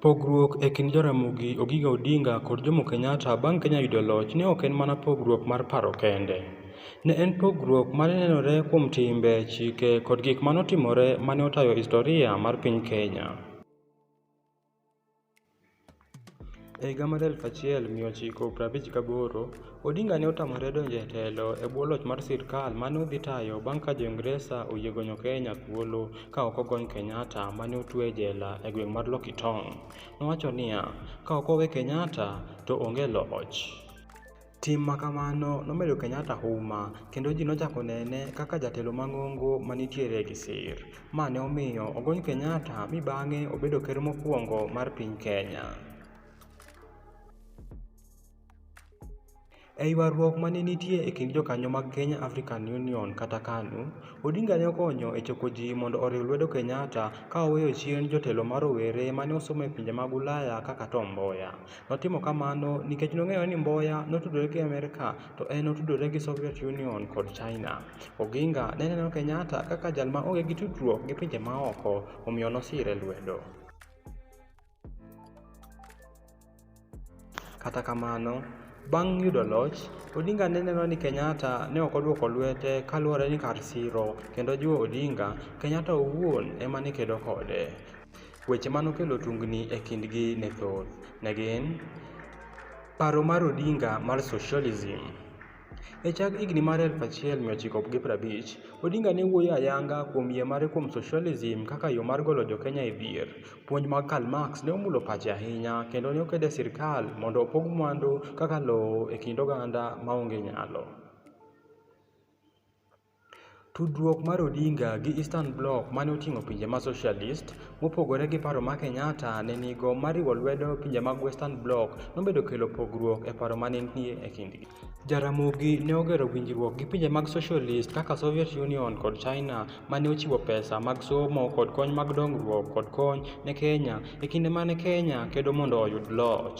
Pogruok e kind Jaramogi Ogiga Odinga kod Jomo Kenyatta bang' Kenya yudo loch ne ok en mana pogruok mar paro kende. Ne en pogruok ma ne nenore kuom timbe, chike, kod gik ma notimore ma ne otayo historia mar piny Kenya. E higa mar 1958, Odinga ne otamore donjo e telo e bwo loch mar sirkal ma ne odhi tayo bang' ka Jo-Ingresa oyie gonyo Kenya thuolo ka ok ogony Kenyatta ma ne otue e jela e gweng' mar Lokitong. Nowacho niya, Ka ok owe Kenyatta, to onge loch. Tim ma kamano nomedo Kenyatta huma kendo ji nochako nene kaka jatelo mang'ongo ma nitiere gi sir. Ma ne omiyo ogony Kenyatta mi bang'e obedo ker mokwongo mar piny Kenya. E ywaruok ma ne nitie e kind jokanyo mag Kenya African Union kata KANU, Odinga ne okonyo e choko ji mondo oriw lwedo Kenyatta ka oweyo chien jotelo ma rowere ma ne osomo e pinje mag Ulaya kaka Tom Mboya. Notimo kamano nikech nong'eyo ni Mboya notudore gi Amerka to en notudore gi Soviet Union kod China. Oginga ne neno Kenyatta kaka jal ma onge gi tudruok gi pinje maoko, omiyo nosire lwedo. Kata kamano, bang' yudo loch, Odinga ne neno ni Kenyatta ne ok odwoko lwete kaluwore ni kar siro kendo jiwo Odinga, Kenyatta owuon ema ne kedo kode. Weche ma nokelo tungni e kindgi ne thoth. Ne gin, paro mar Odinga mar socialism. E chak higni mar 1950, Odinga ne wuoyo ayanga kuom yie mare kuom socialism kaka yo mar golo Jo-Kenya e dhier. Puonj mag Karl Marx ne omulo pache ahinya, kendo ne okedo e sirkal mondo opog mwandu kaka lowo e kind oganda ma onge nyalo. Tudruok mar Odinga gi Eastern Bloc mane oting'o pinje ma Socialist, mopogore gi paro ma Kenyatta ne nigo mar riwo lwedo pinje mag Western Bloc nomedo kelo pogruok e paro mane nitie e kindgi. Jaramogi ne ogero winjruok gi pinje mag Socialist kaka Soviet Union kod China mane ochiwo pesa mag somo kod kony mag dongruok kod kony ne Kenya e kinde mane Kenya kedo mondo oyud loch.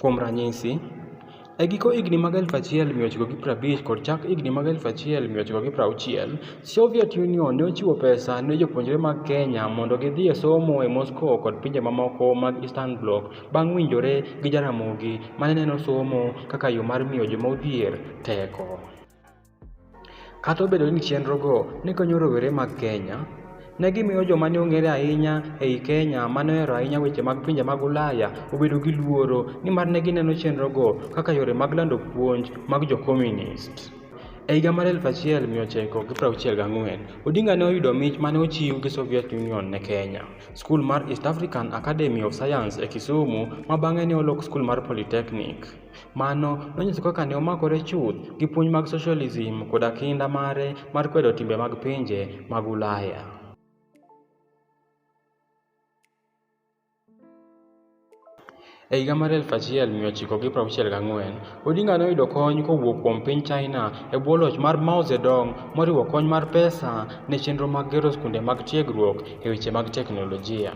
Kuom ranyisi, E giko higni mag 1950 kod chak higni mag 1960, Soviet Union ne ochiwo pesa ne jopuonjre mag Kenya mondo gidhi e somo e Moscow kod pinje mamoko mag Eastern Bloc bang' winjore gi Jaramogi ma ne neno somo kaka yo mar miyo joma odhier teko. Kata obedo ni chenrogo ne konyo rowere mag Kenya, ne gimiyo joma ne ong'ere ahinya ei Kenya ma ne ohero ahinya weche mag pinje mag Ulaya obedo gi luoro nimar ne gineno chenrogo kaka yore mag lando puonj mag jo Komunist. E higa mar 1964, Odinga ne oyudo mich ma ne ochiw gi Soviet Union ne Kenya, Skul mar East African Academy of Science e Kisumu ma bang'e ne olok Skul mar Polytechnic. Mano nonyiso kaka ne omakore chuth gi puonj mag socialism koda kinda mare mar kwedo timbe mag pinje mag Ulaya. E higa mar 1964, Odinga noyudo kony kowuok kuom piny China e bwo loch mar Mao Zedong moriwo kony mar pesa ne chenro mag gero skunde mag tiegruok e weche mag teknolojia.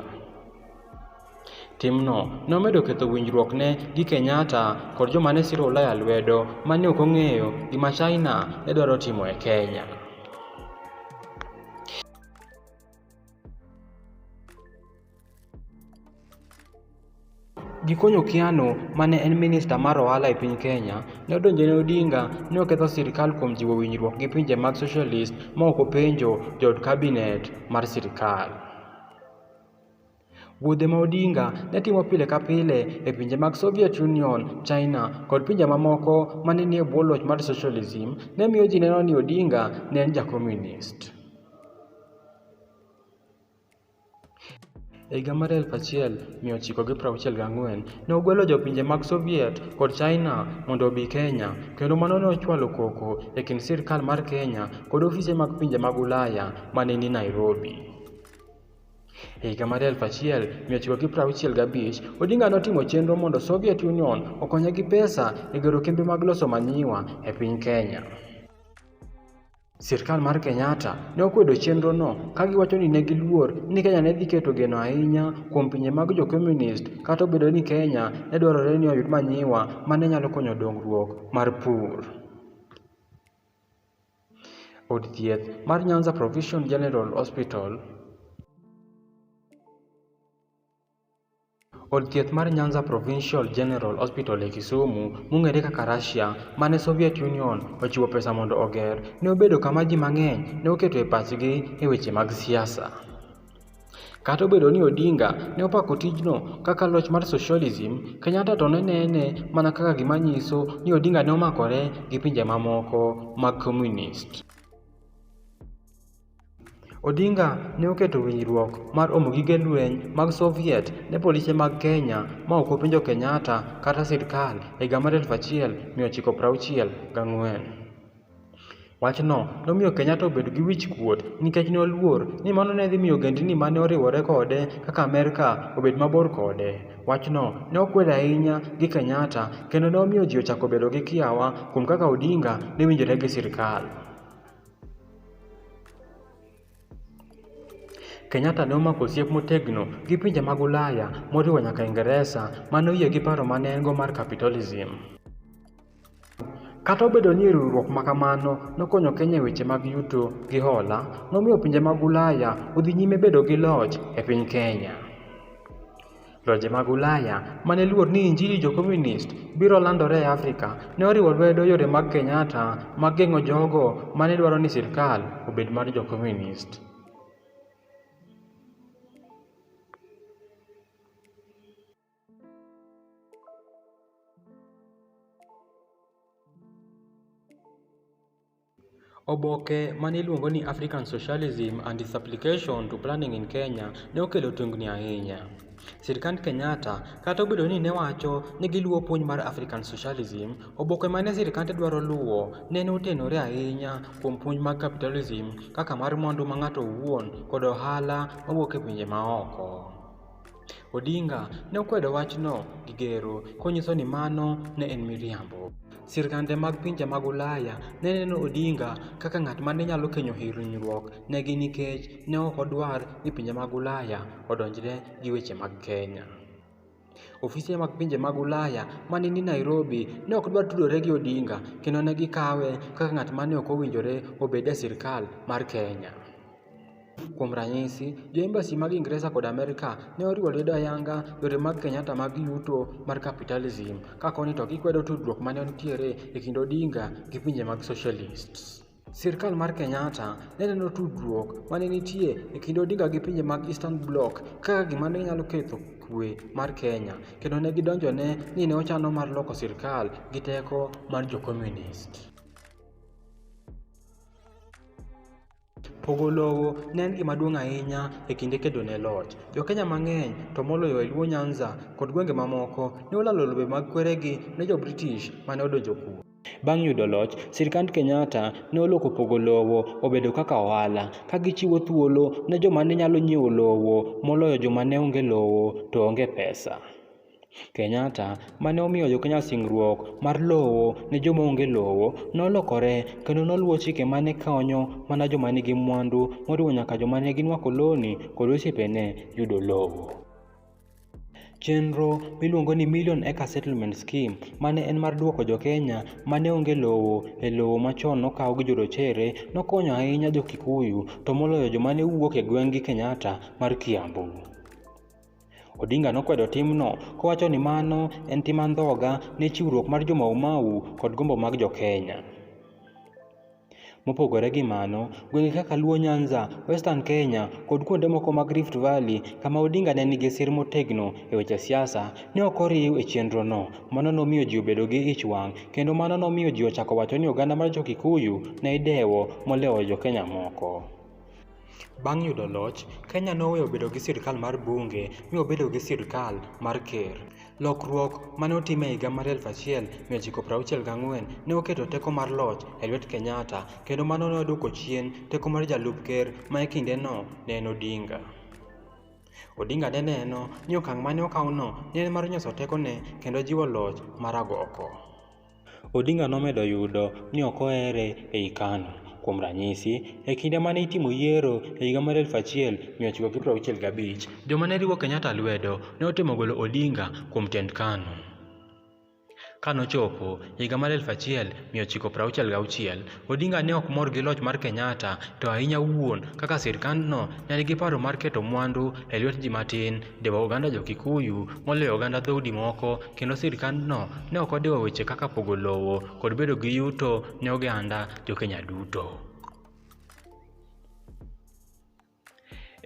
Timno nomedo ketho winjruokne gi Kenyatta kod joma ne siro Ulaya lwedo ma ne ok ong'eyo gima China ne dwaro timo e Kenya. Gikonyo Kiano ma ne en minista mar ohala e piny Kenya, ne odonjo ne Odinga ni oketho sirkal kuom jiwo winjruok gi pinje mag socialist ma ok openjo jood kabinet mar sirkal. Wuodhe ma Odinga ne timo pile ka pile e pinje mag Soviet Union, China, kod pinje mamoko ma ne nie bwo loch mar socialism, ne miyo ji neno ni Odinga ne en ja Komunist. E higa mar 1964, ne ogwelo jopinje mag Soviet kod China mondo obi Kenya, kendo mano ne ochwalo koko e kind sirkal mar Kenya kod ofise mag pinje mag Ulaya ma ne ni Nairobi. E higa mar 1965, Odinga notimo chenro mondo Soviet Union okonye gi pesa e gero kembe mag loso manyiwa e piny Kenya. Sirkal mar Kenyatta ne okwedo chenrono ka giwacho ni ne giluor ni Kenya ne dhi keto geno ahinya kuom pinje mag jo Komunist kata obedo ni Kenya ne dwarore ni oyud manyiwa ma ne nyalo konyo dongruok mar pur. Od thieth mar Nyanza Provision General Hospital Od thieth mar Nyanza Provincial General Hospital e Kisumu, mong'ere kaka Russia, ma ne Soviet Union ochiwo pesa mondo oger, ne obedo kama ji mang'eny ne oketo e pachgi e weche mag siasa. Kata obedo ni Odinga ne opako tijno kaka loch mar socialism, Kenyatta to ne nene mana kaka gima nyiso ni Odinga ne omakore gi pinje mamoko mag komunist. Odinga ne oketo winjruok mar omo gige lweny mag Soviet ne polise mag Kenya ma ok openjo Kenyatta kata sirkal e higa mar 1964. Wachno nomiyo Kenyatta obedo gi wich-kuot nikech ne oluor ni mano ne dhi miyo ogendni ma ne oriwore kode kaka Amerka obed mabor kode. Wachno ne okwedo ahinya gi Kenyatta kendo ne omiyo ji ochako bedo gi kiawa kuom kaka Odinga ne winjore gi sirkal. Kenyatta ne omako osiep motegno gi pinje mag Ulaya moriwo nyaka Ingresa ma ne oyie gi paro ma ne en-go mar capitalism. Kata obedo ni riwruok ma kamano nokonyo Kenya e weche mag yuto gi hola, nomiyo pinje mag Ulaya odhi nyime bedo gi loch e piny Kenya. Lwenje mag Ulaya ma ne luor ni Injili Jo-Komunist biro landore e Afrika ne oriwo lwedo yore mag Kenyatta mag geng'o jogo ma ne dwaro ni sirkal obed mar Jo-Komunist. Oboke ma niluongo ni African Socialism and Its Application to Planning in Kenya ne okelo tungni ahinya. Sirkand Kenyatta, kata obedo ni ne wacho ni giluwo puonj mar African Socialism, oboke ma ne sirkande dwaro luwo nene otenore ahinya kuom puonj mag capitalism kaka mar mwandu ma ng'ato owuon kod ohala mawuok e pinje maoko. Odinga ne okwedo wachno gi gero konyiso ni mano ne en miriambo. Sirkande mag pinje mag Ulaya ne neno Odinga kaka ng'at ma ne nyalo kenyo hinyruok negi nikech ne ok odwar ni pinje mag Ulaya odonjre gi weche mag Kenya. Ofise mag pinje mag Ulaya ma ne ni Nairobi ne ok dwar tudore gi Odinga kendo ne gikawe kaka ng'at ma ne ok owinjore obed e sirkal mar Kenya. Kuom ranyisi, jo embassy mag Ingresa kod Amerka ne oriwo lwedo ayanga yore mag Kenyatta mag yuto mar capitalism, ka koni to gikwedo tudruok ma ne nitiere e kind Odinga gi pinje mag socialists. Sirkal mar Kenyatta ne neno tudruok ma ne nitie e kind Odinga gi pinje mag Eastern Bloc kaka gima ne nyalo ketho kuwe mar Kenya, kendo ne gidonjone ni ne ochano mar loko sirkal gi teko mar jo Komunist. Pogo lowo ne en gima duong' ahinya e kinde kedo ne loch. Jo-Kenya mang'eny, to moloyo e Luo Nyanza kod gwenge mamoko, ne olalo lobe mag kweregi ne Jo-British ma ne odonjo kuno. Bang' yudo loch, sirkand Kenyatta ne oloko pogo lowo obedo kaka ohala, ka gichiwo thuolo ne joma ne nyalo nyiewo lowo moloyo joma ne onge lowo to onge pesa. Kenyatta ma ne omiyo Jo-Kenya singruok mar lowo ne joma onge lowo, nolokore kendo noluwo chike ma ne konyo mana joma nigi mwandu moriwo nyaka joma ne gin wakoloni kod osiepene yudo lowo. Chenro miluongo ni Million Acre Settlement Scheme ma ne en mar duoko Jo-Kenya ma ne onge lowo e lowo machon nokaw gi jorochere nokonyo ahinya Jo-Kikuyu to moloyo joma ne wuok e gweng'gi Kenyatta mar Kiambu. Odinga nokwedo timno kowacho ni mano en tim andhoga ne chiwruok mar jo Mau Mau kod gombo mag jo Kenya. Mopogore gi mano, gwenge kaka Luo Nyanza, Western Kenya, kod kuonde moko mag Rift Valley kama Odinga ne nigi sir motegno e weche siasa, ne ok oriw e chenrono. Mano nomiyo ji obedo gi ich wang', kendo mano nomiyo ji ochako wacho ni oganda mar Jo-Kikuyu ne idewo moloyo Jo-Kenya moko. Bang' yudo loch, Kenya noweyo bedo gi sirkal mar bunge mi obedo gi sirkal mar ker. Lokruok ma ne otim e higa mar 1964 ne oketo teko mar loch e lwet Kenyatta kendo mano ne odwoko chien teko mar jalup ker ma e kindeno ne en Odinga. Odinga ne neno ni okang' ma ne okawno ne en mar nyoso tekone kendo jiwo loch mar agoko. Odinga nomedo yudo ni ok ohere ei Kanu. Kuom ranyisi, e kinde ma ne itimo yiero e higa mar 1965, joma ne riwo Kenyatta lwedo ne otemo golo Odinga kuom tend Kanu. Ka nochopo higa mar 1966, Odinga ne ok mor gi loch mar Kenyatta to ahinya wuon kaka sirkandno ne nigi paro mar keto mwandu e lwet ji matin, dewo oganda Jo-Kikuyu moloyo oganda dhoudi moko, kendo sirkandno ne ok odewo weche kaka pogo lowo kod bedo gi yuto ne oganda Jo-Kenya duto.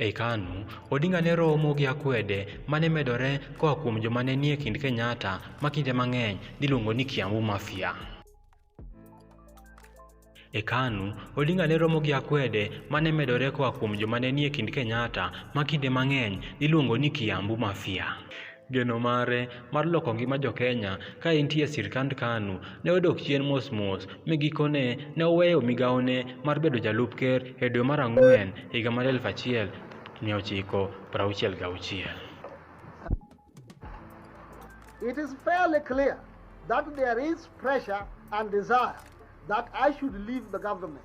Ei Kanu, Odinga ne romo gi akwede ma ne medore koa kuom joma ne nie kind Kenyatta ma kinde mang'eny niluongo ni Kiambu Mafia. E Kanu, Odinga ne romo gi akwede ma ne medore koa kuom joma ne nie kind Kenyatta ma kinde mang'eny niluongo ni Kiambu Mafia. Geno mare mar loko ngima Jo-Kenya ka entie e sirkand KANU ne odok chien mos mos mi gikone ne oweyo migawone mar bedo jalup ker e dwe mar ang'wen higa mar 1966. It is fairly clear that there is pressure and desire that I should leave the government.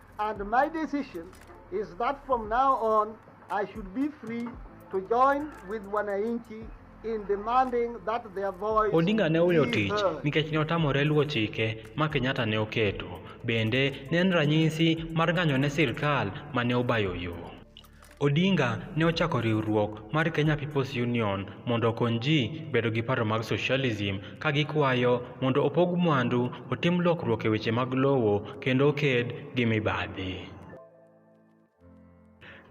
And my decision is that from now on I should be free to join with wananchi in demanding that their voice Odinga ne oweyo be tich heard. nikech ne otamore luwo chike ma Kenyatta ne oketo. Bende, ne en ranyisi mar ng'anyo ne sirkal ma ne obayo yo. Odinga ne ochako riwruok mar Kenya People's Union mondo okony ji bedo gi paro mag socialism ka gikwayo mondo opog mwandu, otim lokruok e weche mag lowo kendo oked gi mibadhi.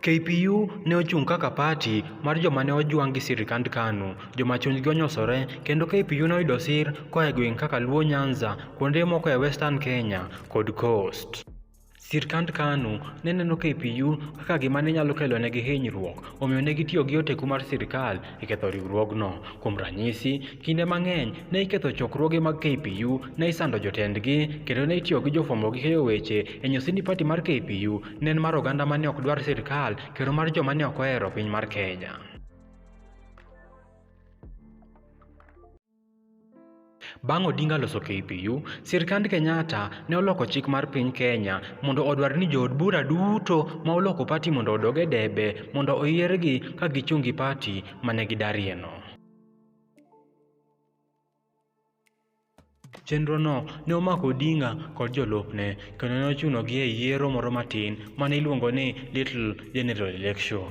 KPU ne ochung' kaka pati mar joma ne ojwang' gi sirkand Kanu, joma chunygi onyosore, kendo KPU ne oyudo sir koa e gwenge kaka Luo Nyanza, kuonde moko e Western Kenya, kod Coast. Sirkand Kanu ne neno KPU kaka gima ne nyalo kelonegi hinyruok, omiyo ne gitiyo gi oteku mar sirkal e ketho riwruogno. Kuom ranyisi, kinde mang'eny ne iketho chokruoge mag KPU, ne isando jotendgi, kendo ne itiyo gi jofwambo gi keyo weche e nyiso ni pati mar KPU ne en mar oganda ma ne ok dwar sirkal kendo mar joma ne ok ohero piny mar Kenya. Bang' Odinga loso KPU, sirkand Kenyatta ne oloko chik mar piny Kenya mondo odwar ni jood bura duto ma oloko pati mondo odog e debe mondo oyiergi ka gichung' gi pati ma ne gidarieno. Chenrono ne omako Odinga kod jolupne kendo ne ochunogi e yiero moro matin ma ne iluongo ni Little General Election.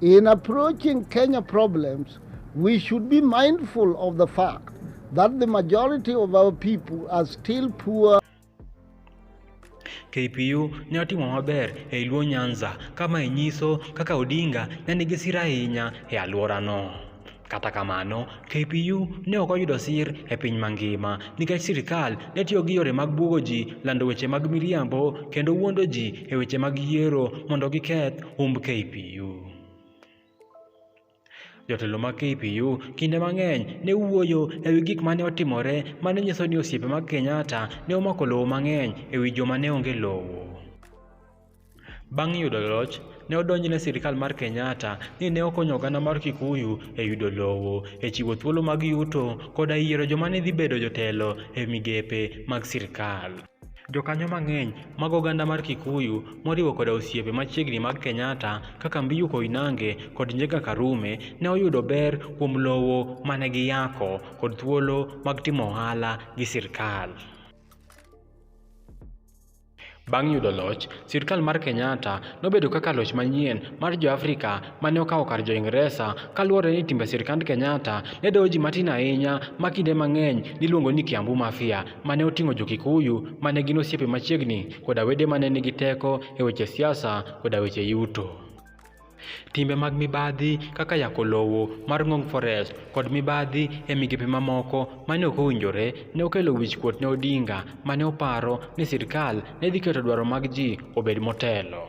In approaching Kenya problems, we should be mindful of the fact that the majority of our people are still poor. KPU ne otimo maber e Luo Nyanza kama inyiso kaka Odinga ne nigi sira ahinya e alworano. Kata kamano, KPU ne ok oyudo sir e piny mangima nikech sirkal ne tiyo gi yore mag bwogo ji, lando weche mag miriambo, kendo wuondo ji e weche mag yiero mondo giketh humb KPU. Jotelo mag KPU kinde mang'eny ne wuoyo e wi gik ma ne otimore ma ne nyiso ni osiepe mag Kenyatta ne omako lowo mang'eny e wi joma ne onge lowo. Bang' yudo loch, ne odonjne sirkal mar Kenyatta ni ne okonyo oganda mar Kikuyu e yudo lowo, e chiwo thuolo mag yuto, koda e yiero joma ne dhi bedo jotelo e migepe mag sirkal. Jokanyo mang'eny mag oganda mar Kikuyu, moriwo koda osiepe machiegni mag Kenyatta kaka Mbiyu Koinange kod Njenga Karume, ne oyudo ber kuom lowo ma ne giyako kod thuolo mag timo ohala gi sirkal. Bang' yudo loch, sirkal mar Kenyatta nobedo kaka loch manyien mar Jo-Afrika ma ne okawo kar Jo-Ingresa kaluwore ni timbe sirkand Kenyatta ne dewo ji matin ahinya ma kinde mang'eny niluongo ni Kiambu Mafia ma ne oting'o Jo-Kikuyu ma ne gin osiepe machiegni koda wede ma ne nigi teko e weche siasa koda weche yuto. Timbe mag mibadhi kaka yako lowo mar Ngong Forest kod mibadhi e migepe mamoko mane ok owinjore ne okelo wichkuot ne Odinga mane oparo ni sirkal ne dhi keto dwaro mag ji obed motelo.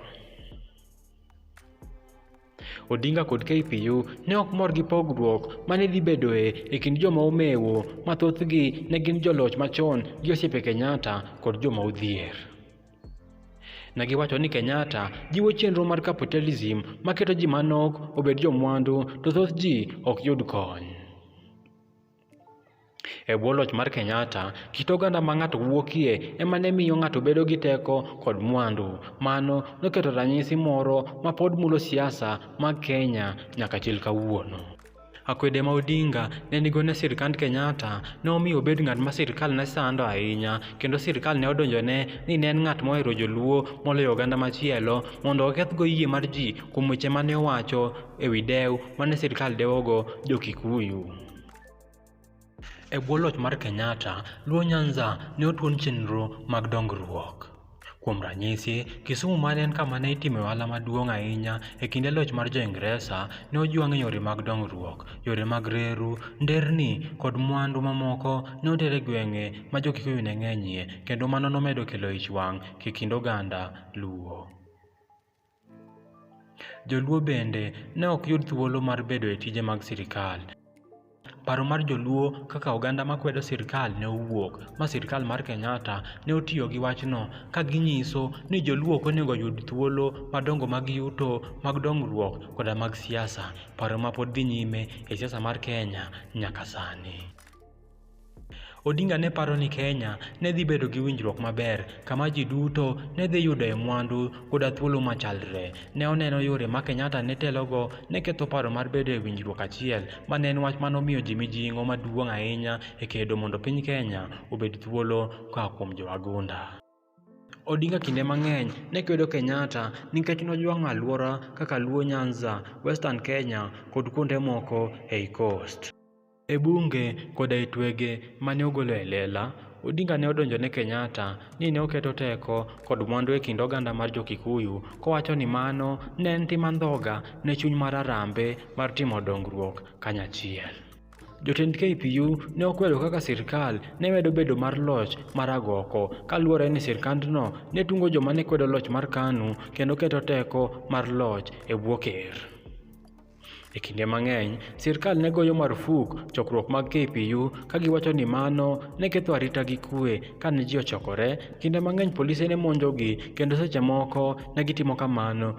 Odinga kod KPU ne ok mor gi pogruok ma ne dhi bedoe e kind joma omewo ma thothgi ne gin joloch machon gi osiepe Kenyatta kod joma odhier. Ne giwacho ni Kenyatta jiwo chenro mar capitalism maketo ji manok obed jomwandu to thoth ji ok yud kony. E bwo loch mar Kenyatta, kit oganda ma ng'ato wuokie ema ne miyo ng'ato bedo gi teko kod mwandu. Mano noketo ranyisi moro ma pod mulo siasa mag Kenya nyaka chil kawuono. Akwede ma Odinga ne nigo ne sirkand Kenyatta ne omiyo obed ng'at ma sirkal ne sando ahinya kendo sirkal ne odonjone ni ne en ng'at mohero joluo moloyo oganda machielo mondo okethgo yie mar ji kuom weche ma ne owacho e wi dew ma ne sirkal dewogo Jo-Kikuyu. E bwo loch mar Kenyatta, Luo Nyanza ne otuon chenro mag dongruok. Kuom ranyisi, Kisumu ma ne en kama ne itimoe ohala maduong' ahinya e kinde loch mar Jo-Ingresa, ne ojwang' e yore mag dongruok. Yore mag reru, nderni, kod mwandu mamoko ne oter e gwenge ma Jo-Kikuyu ne ng'enyie, kendo mano nomedo kelo ich wang' e kind oganda Luo. Joluo bende ne ok yud thuolo mar bedo e tije mag sirkal. Paro mar joluo kaka oganda makwedo sirkal ne owuok, ma sirkal mar Kenyatta ne otiyo gi wachno ka ginyiso ni joluo ok onego oyud thuolo madongo mag yuto, mag dongruok koda mag siasa, paro mapod dhi nyime e siasa mar Kenya nyaka sani. Odinga ne paro ni Kenya ne dhi bedo gi winjruok maber kama ji duto ne dhi yudoe mwandu koda thuolo machalre. Ne oneno yore ma Kenyatta ne telogo ne ketho paro mar bedo e winjruok achiel, ma ne en wach ma nomiyo ji mijing'o maduong' ahinya e kedo mondo piny Kenya obed thuolo koa kuom jowagunda. Odinga kinde mang'eny ne kwedo Kenyatta nikech nojwang'o alwora kaka Luo Nyanza, Western Kenya kod kuonde moko ei Coast. E bunge koda e twege mane ogolo e lela, Odinga ne odonjo ne Kenyatta ni ne oketo teko kod mwandu e kind oganda mar jo-Kikuyu kowacho ni mano ne en tim andhoga ne chuny mar Harambee mar timo dongruok kanyachiel. Jotend KPU ne okwedo kaka sirkal ne medo bedo mar loch mar agoko kaluwore ni sirkandno ne tungo joma ne kwedo loch mar KANU kendo keto teko mar loch e bwo ker. E kinde mang'eny, sirkal ne goyo marfuk chokruok mag KPU ka giwacho ni mano ne ketho arita gi kue kane ji ochokore, kinde mang'eny polise ne monjogi kendo seche moko ne gitimo kamano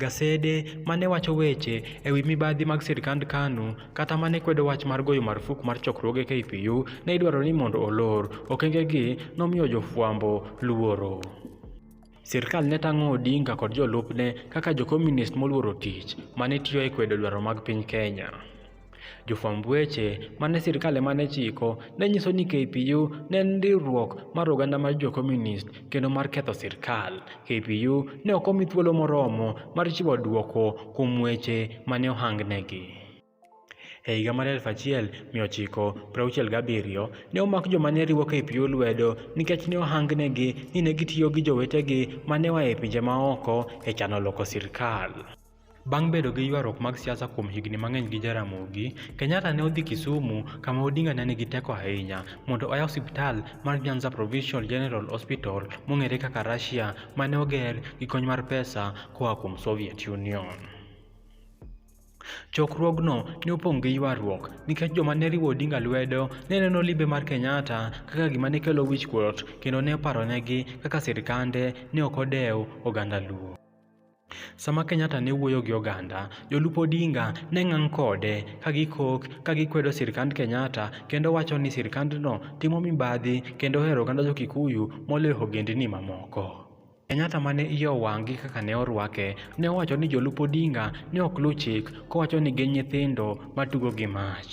Gasede ma ne wacho weche e wi mibadhi mag sirkand Kanu kata ma ne kwedo wach mar goyo marfuk mar chokruoge KPU ne idwaro ni mondo olor. Okengegi nomiyo jofwambo luoro. Sirkal ne tang'o Odinga kod jolupne kaka jokomunist moluoro tich ma ne tiyo e kwedo dwaro mag piny Kenya. Jofwamb weche ma ne sirkal ema ne chiko ne nyiso ni KPU ne en riwruok mar oganda mar jo Komunist kendo mar ketho sirkal. KPU ne ok omi thuolo moromo mar chiwo dwoko kuom weche ma ne ohangnegi. E higa mar 1967, ne omak joma ne riwo KPU lwedo nikech ne ohangnegi ni ne gitiyo gi jowetegi ma ne oa e pinje maoko e chano loko sirkal. Bang' bedo gi ywaruok mag siasa kuom higni mang'eny gi Jaramogi, Kenyatta ne odhi Kisumu kama Odinga ne nigi teko ahinya mondo oyaw osiptal mar Nyanza Provincial General Hospital mong'ere kaka Russia ma ne oger gi kony mar pesa koa kuom Soviet Union. Chokruogno ne opong' gi ywaruok nikech joma ne riwo Odinga lwedo ne neno limbe mar Kenyatta kaka gima ne kelo wichkuot kendo ne oparonegi kaka sirkande ne ok odew oganda Luo. Sama Kenyatta ne wuoyo gi oganda, jolup Odinga ne ngang' kode ka gikok ka gikwedo sirkand Kenyatta kendo wacho ni sirkandno timo mibadhi kendo ohero oganda jo Kikuyu moloyo ogendni mamoko. Kenyatta ma ne iye owang' gi kaka ne orwake, ne owacho ni jolup Odinga ne ok luw chik kowacho ni gin nyithindo matugo gi mach.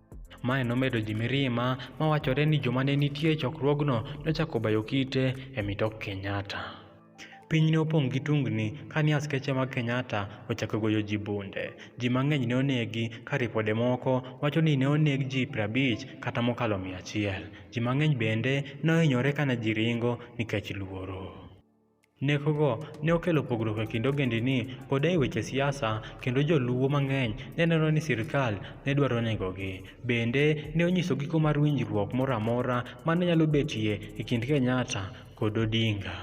Mae nomedo ji mirima ma wachore ni joma ne nitie e chokruogno nochako bayo kite e mitok Kenyatta. Piny ne opong' gi tungni ka ni askeche mag Kenyatta ochako goyo ji bunde. Ji mang'eny ne onegi ka ripode moko wacho ni ne oneg ji 50 kata mokalo 100. Ji mang'eny bende ne ohinyore ka ne ji ringo nikech luoro. Nekogo ne okelo pogruok e kind ogendini koda e weche siasa, kendo joluwo mang'eny ne neno ni sirkal ne dwaro negogi. Bende, ne onyiso giko mar winjruok moro amora ma ne nyalo betie e kind Kenyatta kod Odinga.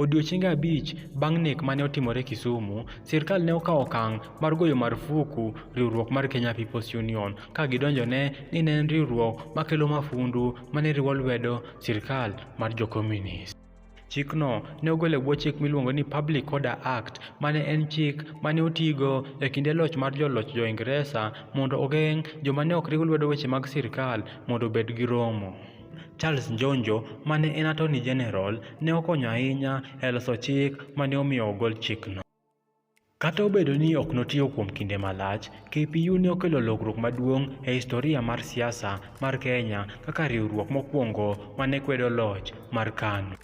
Odiechienge abich bang' nek ma ne otimore Kisumu, sirkal ne okawo okang' mar goyo marufuku riwruok mar Kenya People's Union ka gidonjone ni ne en riwruok makelo mafundu ma ne riwo lwedo sirkal mar Jo-Komunist. Chikno ne ogol e bwo chik miluongo ni Public Order Act, ma ne en chik ma ne otigo e kinde loch mar joloch Jo-Ingresa mondo ogeng' joma ne ok riw lwedo weche mag sirkal mondo obed gi romo. Charles Njonjo ma ne en Attorney General ne okonyo ahinya e loso chik ma ne omiyo ogol chikno. Kata obedo ni ok notiyo kuom kinde malach, KPU ne okelo lokruok maduong' e historia mar siasa mar Kenya kaka riwruok mokwongo ma ne kwedo loch mar KANU.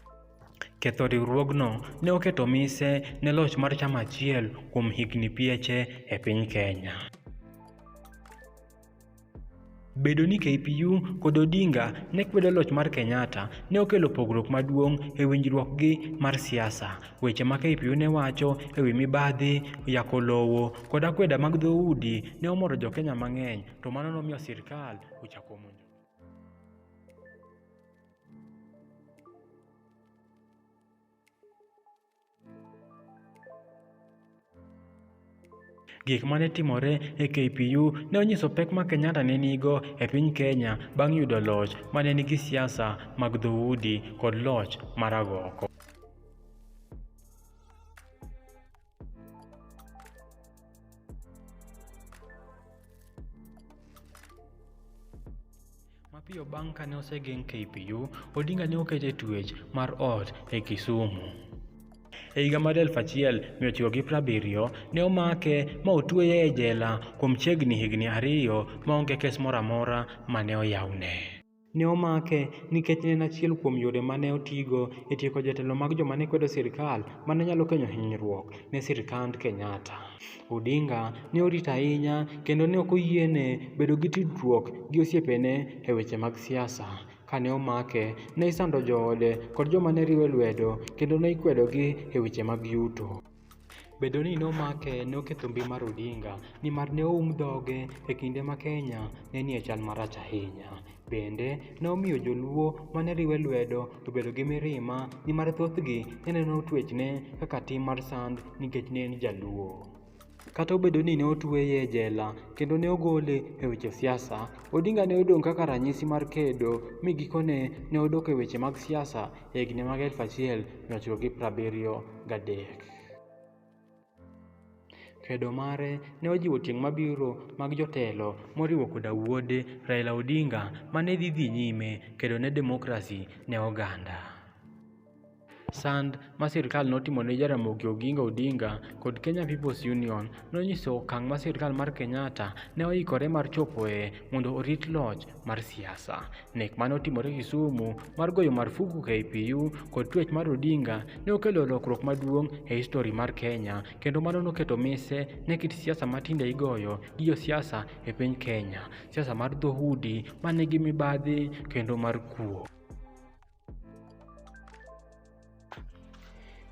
Ketho riwruogno ne oketo mise ne loch mar chama achiel kuom higni pieche e piny Kenya. Bedo ni KPU kod Odinga ne kwedo loch mar Kenyatta ne okelo pogruok maduong' e winjruokgi mar siasa. Weche ma KPU ne wacho e wi mibadhi, yako lowo, kod akweda mag dhoudi ne omoro jo Kenya mang'eny, to mano nomiyo sirkal ochako monjo. Gik ma ne timore e KPU ne onyiso pek ma Kenyatta ne nigo e piny Kenya bang' yudo loch ma ne nigi siasa mag dhoudi kod loch mar agoko. Mapiyo bang' kane osegeng' KPU, Odinga ne oket e tuech mar ot e Kisumu. E higa mar 1970 ne omake ma otueye e jela kuom chiegni higni ariyo ma onge kes moro amora ma ne oyawne. Ne omake nikech ne en achiel kuom yore ma ne otigo e tieko jotelo mag joma ne kwedo sirkal ma ne nyalo kelo hinyruok ne sirkand Kenyatta. Odinga ne orito ahinya kendo ne ok oyiene bedo gi tudruok gi osiepene e weche mag siasa. Kane omake, ne isando joode kod joma ne riwe lwedo kendo ne ikwedogi e weche mag yuto. Bedo ni nomake ne oketho mbi mar Odinga nimar ne oum dhoge e kinde ma Kenya ne nie chal marach ahinya. Bende, ne omiyo joluo ma ne riwe lwedo obedo gi mirima nimar thothgi ne neno twechne kaka tim mar sand nikech ne en Jaluo. Kata obedo ni ne otueye e jela kendo ne ogole e weche siasa, Odinga ne odong' kaka ranyisi mar kedo mi gikone ne odok e weche mag siasa e higni mag 1973. Kedo mare ne ojiwo tieng' mabiro mag jotelo moriwo koda wuode Raila Odinga ma ne dhi dhi nyime kedo ne demokrasi ne oganda. Sand ma sirkal notimo ne Jaramogi Oginga Odinga kod Kenya People's Union nonyiso okang' ma sirkal mar Kenyatta ne oikore mar chopoe mondo orit loch mar siasa. Nek mane otimore Kisumu mar goyo marufuku KPU kod twech mar Odinga ne okelo lokruok maduong' e histori mar Kenya kendo mano noketo mise ne kit siasa matinde igoyo gi josiasa e piny Kenya, siasa mar dhoudi ma nigi mibadhi kendo mar kuo.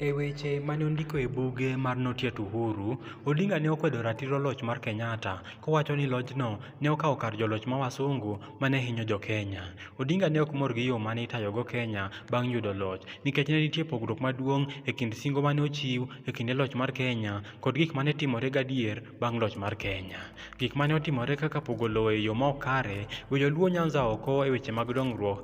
E weche mane ondiko e buge mar Notiet Uhuru, Odinga ne okwedo ratiro loch mar Kenyatta kowacho ni lojno ne okawo kar joloch ma wasungu mane hinyo jo Kenya. Odinga ne ok mor gi yo mane itayogo Kenya bang' yudo loch nikech ne nitie pogruok maduong' e kind singo mane ochiw e kinde loch mar Kenya kod gik mane timore gadier bang' loch mar Kenya. Gik mane otimore kaka pogo lowo e yo ma ok kare, weyo Luo Nyanza oko e weche mag dongruok